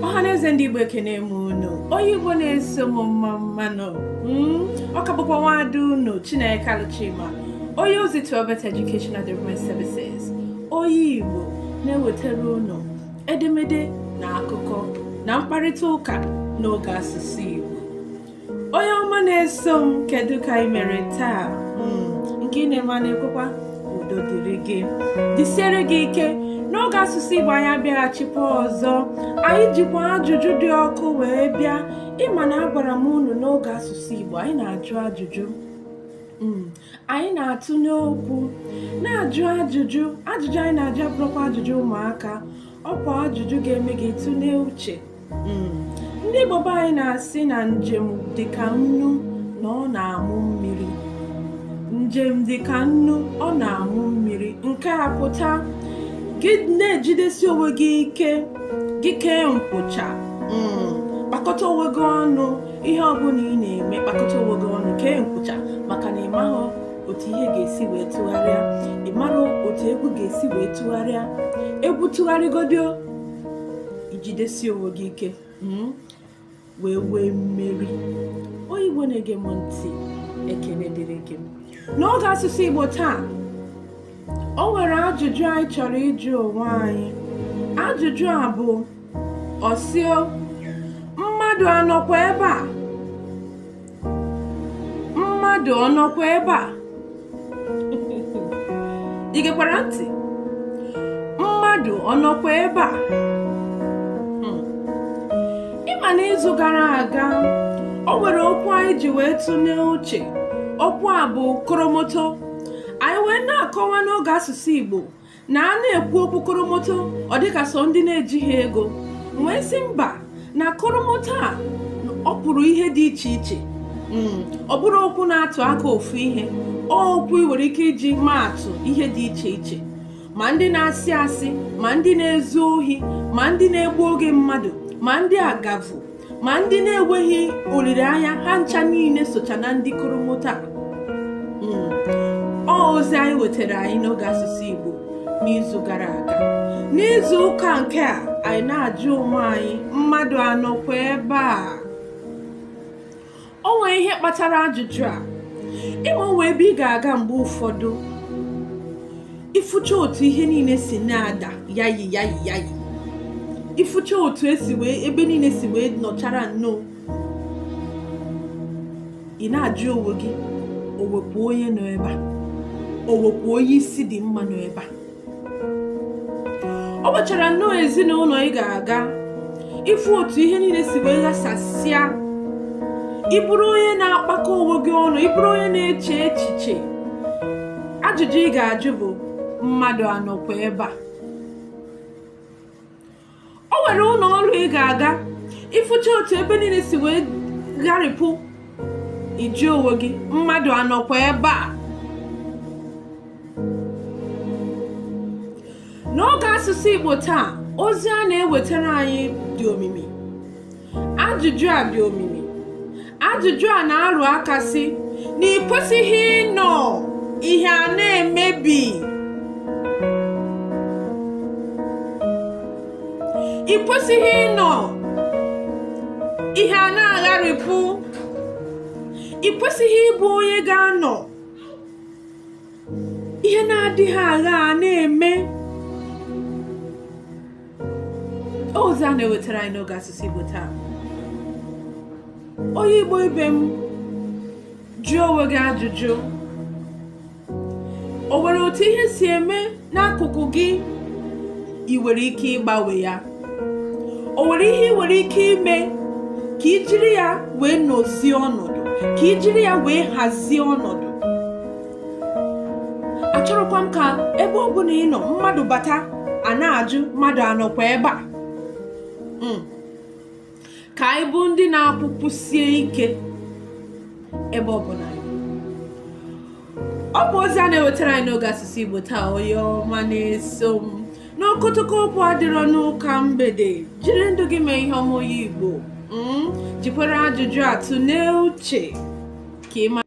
ọha na eze ndị Igbo ekene m unu onye Igbo na-eso m mma mma nụ hmm? ọ ka bụkwa nwada unu Chineke Alụchima onye ozi to Obert Education and Development Services onye Igbo na-ewetara unu edemede na akụkọ na mkparịta ụka n'oge asụsụ Igbo onye ọma na-eso m kedu ka ị mere taa hmm, nke ị na-eme na-ekwekwa ndụ dịrị gị dịsiere gị ike n'oge asụsụ Igbo anyị abịaghachikwa ọzọ anyị jikwa ajụjụ dị ọkụ wee bịa ị ma na agwara m unu n'oge asụsụ Igbo anyị na-ajụ ajụjụ hmm, anyị na-atụ n'okwu na-ajụ ajụjụ ajụjụ anyị na-ajụ abụrọkwa ajụjụ ụmụaka ọ kwa ajụjụ ga-eme gị tụlee uche hmm. ndị Igbo be anyị na-asị na njem dị ka nnu na ọ na-amụ mmiri njem dị ka nnu ọ na-amụ mmiri nke a pụta gị na-ejidesi onwe gị ike gị kee nkwụcha hmm. kpakọta onwe gị ọnụ ihe ọbụla ị na-eme kpakọta onwe gị ọnụ kee nkwụcha maka na ị otu ihe ga-esi wee tụgharịa ị marọ otu egwu ga-esi wee tụgharịa egwu tụgharịgodi o ị jidesie onwe gị ike hmm, wee nwee mmeri onye Igbo na-ege m ntị ekene dịrị gị n'oge asụsụ Igbo taa o nwere ajụjụ anyị chọrọ ịjụ onwe anyị ajụjụ a bụ ọ sị o mmadụ anọkwa ebe a mmadụ ọ nọkwa ebe a ị gekwara ntị mmadụ ọ nọkwa ebe a hmm. ị ma na izu gara aga o nwere okwu anyị ji wee tụnye uche okwu a bụ koromoto anyị wee na-akọwa n'oge asụsụ Igbo na a na-ekwu okwu koromoto ọ dịka sọ ndị na-ejighị ego m wee sị mba na koromoto a ọ pụrụ ihe dị iche iche hmm, ọ bụrọ okwu na-atụ aka ofu ihe ọ okwu ị nwere ike iji maa atụ ihe dị iche iche ma ndị na-asị asị ma ndị na-ezu ohi ma ndị na-egbu oge mmadụ ma ndị agavu ma ndị na-enweghị olileanya ha ncha niile socha na ndị koromoto a hmm. ọ ozi anyị wetara anyị n'oge asụsụ Igbo n'izu gara aga n'izu ụka nke a anyị na-ajụ onwe anyị mmadụ anọ kwa ebe a o nwere ihe kpatara ajụjụ a ị ma o nwe ebe ị ga-aga mgbe ụfọdụ ị fụcha otu ihe niile si na-ada yayi yayi yayi ị fụcha otu e si wee ebe niile si wee nọchara nnọọ ị na-ajụ onwe gị o nwekwa onye nọ ebe a o nwekwa onye isi dị mma nọ ebe a ọ gbachara nnọọ ezinụlọ ị ga-aga ị fụ otu ihe niile si wee ghasasịa ị bụrụ onye na-akpakọ onwe gị ọnụ ị bụrụ onye na-eche echiche ajụjụ ị ga-ajụ bụ mmadụ anọkwa ebe a o nwere ụlọ ọrụ ị ga-aga ị fụcha otu ebe niile si wee gharịpụ ị jụọ onwe gị mmadụ anọkwa ebe a n'oge asụsụ Igbo taa ozi a na-ewetara anyị dị omimi ajụjụ a dị omimi ajụjụ a na-arụ aka sị na ị kwesịghị ịnọ ihe a na-emebi ị kwesịghị ịnọ ihe a na-agharịpụ ị kwesịghị ịbụ onye ga-anọ ihe na-adịghị agha a na-eme ozi a na-ewetara anyị n'oge asụsụ Igbo taa onye Igbo ibe m jụọ onwe gị ajụjụ o nwere otu ihe si eme n'akụkụ gị ị nwere ike ịgbanwe ya o nwere ihe ị nwere ike ime ka i jiri ya wee nọzie ọnọdụ ka i jiri ya wee hazie ọnọdụ achọrọkwa m ka ebe ọ bụla ị nọ mmadụ bata a na-ajụ mmadụ anọkwa ebe a hmm. ka anyị bụ ndị na-akwụkwụsie ike ebe ọ bụla ọ bụ ozi a na-ewetara anyị n'oge asụsụ Igbo taa onye ọma na-eso m n'okotoko okwu adịrọ n'ụka mgbede jiri ndụ gị mee ihe ọma onye Igbo hmm. jikwere ajụjụ a tụọ n'uche ka ị